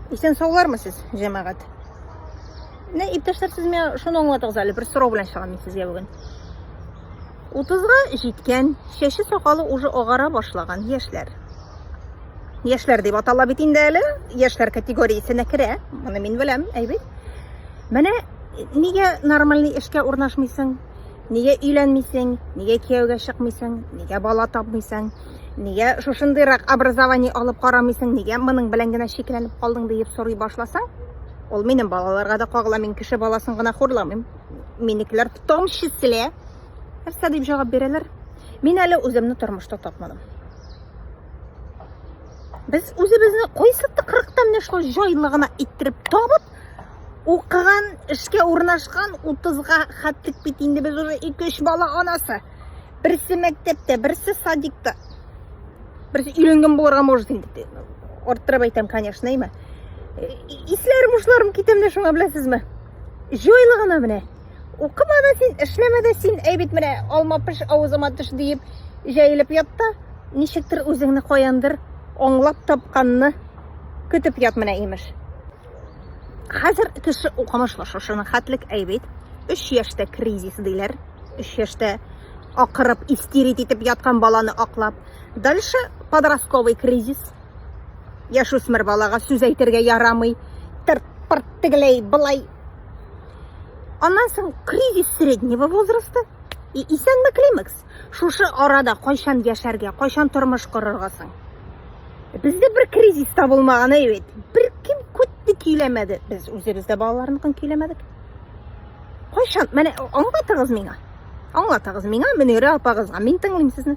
Исән саулармы сез, җәмәгать? Менә иптәшләр, сез миңа шуны аңлатыгыз әле, бер сорау белән чыгам мин сезгә бүген. 30-га җиткән, чәче сакалы уже агара башлаган яшьләр. Яшьләр дип атала бит инде әле, яшьләр категориясенә керә. Моны мин беләм, әйбәт. Менә нигә нормальный эшкә урнашмыйсың? Нигә өйләнмисең, нигә кияүгә чыкмыйсың, нигә бала тапмыйсың, нигә шушындыйрак образование алып карамыйсың, нигә моның белән генә чикләнеп калдың диеп сорый башласаң, ул минем балаларга да кагыла, мин кеше баласын гына хурламыйм. Минекеләр в том числе нәрсә дип җавап бирәләр? Мин әле үземне тормышта тапмадым. Без үзебезне кайсы тыкрыктан яшьләр җайлы гына иттереп табып, Укыган, эшкә урнашкан 30-га хәтлек бит инде без уже 2-3 бала анасы. Берсе мәктәптә, берсе садикта. Берсе өйрәнгән булырга может инде. Арттырып әйтәм, конечно, име. Э, Исләр бушларым китәм дә шуңа беләсезме? Җойлы гына менә. Укыма да син, эшләмә дә син, әй бит менә алма пеш авызыма төш диеп җәелеп ятта. Ничектер үзеңне каяндыр аңлап тапканны көтеп ят менә имеш. Хәзер кеше укымышлы шушыны хәтлек әйбит. 3 яшьтә кризис диләр. 3 яшьтә акырып истерит итеп яткан баланы аклап. Дальше подростковый кризис. Яшүсмер балага сүз әйтергә ярамый. Тырт пырт тегеләй былай. Аннан соң кризис среднего возраста и исәнме климакс. Шушы арада кайчан яшәргә, кайчан тормыш корырга соң? Бездә бер кризис та булмаган, әйбәт. Бер кем күтте көйләмәде. Без үзебез дә балаларныкын көйләмәдек. Кайчан? Менә аңлатыгыз миңа. Аңлатыгыз миңа, Мөнирә апагызга. Мин тыңлыйм сезне.